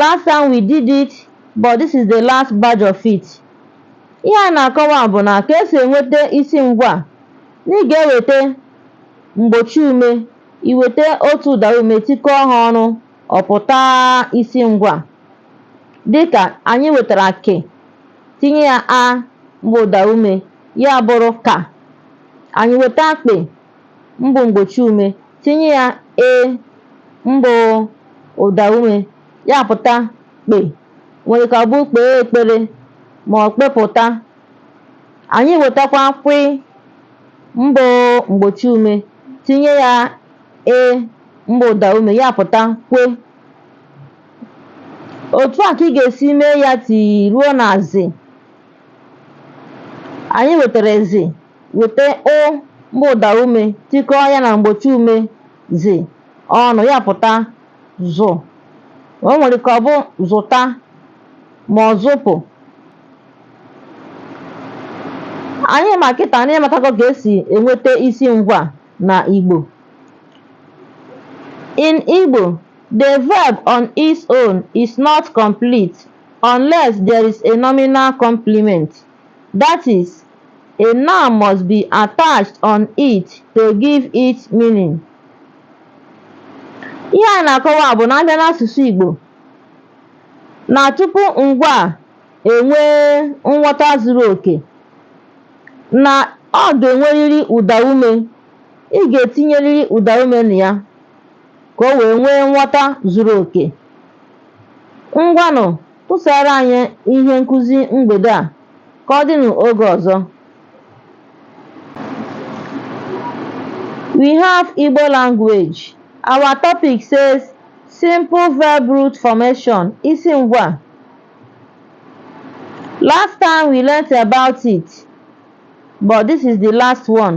last time we did it but this is the last batch of it ihe a na-akọwa bụ na ka esi enweta isi ngwa na ị ga-eweta mgbochi ume i weta otu ụda ume tikọọ ha ọnụ ọ pụta isi ngwa dịka anyị wetara kị tinye ya a mbụ ụda ume ya bụrụ ka anyị weta kpị mbụ mgbochi ume tinye ya e mbụ ụda ume ya apụta kpe nwere ike ọ bụ kpee ekpere ma ọ kpepụta anyị wetakwa kwị mbụ mgbochi ume tinye ya e mbụ ụda ume ya apụta kwe otu a ka ị ga-esi mee ya ti ruo na zị anyị wetara zị Weta ụ mbụ ụdaume tikọọ ya na mgbochiume zị ọnụ, ya apụta zụ. O nwere ike ọ bụ zụta ma ọ zụpụ. Anyị ma kịta na ị matago ka esi enweta isi ngwaa na Igbo. In Igbo, the verb on its own is not complete unless there is a nominal complement. that is, a noun must be attached on it to give it meaning. Ihe a na-akọwa bụ na a bịa n'asụsụ Igbo na tupu ngwaa enwee nghọta zuru oke na ọ ga-enwerịrị ụdaume ị ga-etinyerịrị ụdaume na ya ka o wee nwee nghọta zuru oke. Ngwanụ Tụsaara anyị ihe nkụzi mgbede a ka ọ dị n'oge ọzọ. We have Igbo language. Our topic says simple verb root formation, isi ngwa. Last time we learnt about it, but this is the last one.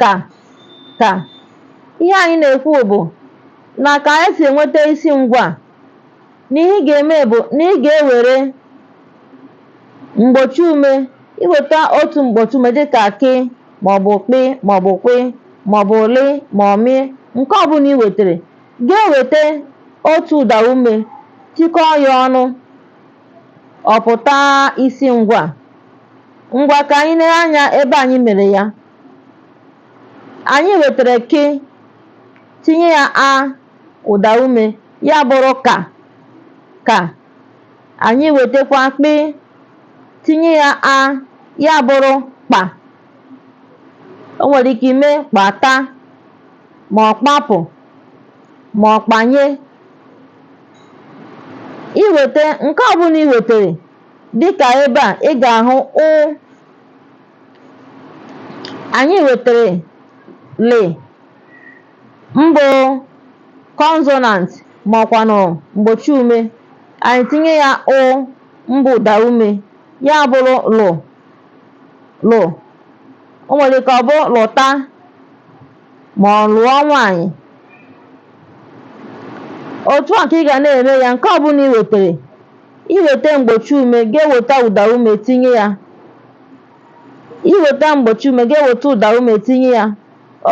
ka ka ihe anyị na-ekwu bụ na ka anyị si enweta isi ngwaa na ihe ị ga-eme bụ na ị ga-ewere mgbochi ume i weta otu mgbochi ume dịka kị maọbụ kpị maọbụ kwị maọbụ lị ma ọ mị nke ọbụla i wetere ga-eweta otu ụda ume tikọọ ya ọnụ Ọ pụta isi ngwa. Ngwa ka anyị lee anya ebe anyị mere ya. Anyị wetara kị tinye ya a ụda ume ya bụrụ ka ka. Anyị wetakwa kpị tinye ya a ya bụrụ kpa. o nwere ike ime kpata ma ọ kpapụ ma ọ kpanye i weta nke ọbụla i wetere dịka ebe a ị ga-ahụ ụ anyị wetere lị mbụ consonant ma ọkwanụ mgbochi ume anyị tinye ya ụ mbụ ụda ume ya bụrụ lụ lụ o nwere ike ọ bụ lụta ma ọ lụọ nwaanyị otu a ka ị ga na-eme ya nke ọbụla i wetere i weta mgbochi ume ga-eweta ụda ume tinye ya i weta mgbochi ume ga-eweta ụda ume tinye ya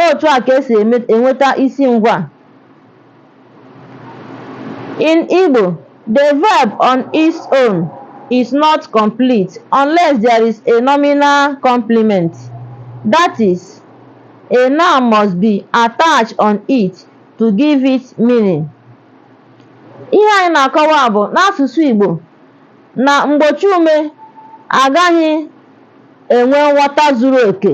otu a ka e si enweta isi ngwaa In Igbo, the verb on its own is not complete unless there is a nominal complement. That is, a noun must be attached on it to give it meaning. Ihe anyị na-akọwa bụ n'asụsụ Igbo na mgbochiume agaghị enwe nghọta zuru oke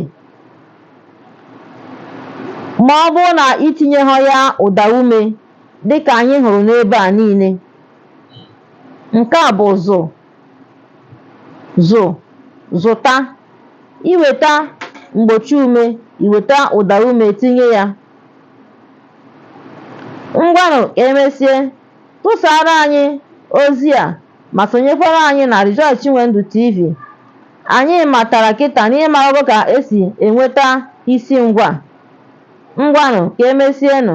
ma ọ bụrụ na i tinyeghọ ya ụdaume dịka anyị hụrụ n'ebe a niile nke a bụ zụ zụ zụta i weta mgbochi ume i weta ụdaume tinye ya ngwanụ ka e mesie tụsaara anyị ozi a ma sonyekwara anyị na Rejoice Chinwendu TV Anyị matara kịta na ị marago ka e si enweta isi ngwaa. Ngwanụ, ka e mesienụ.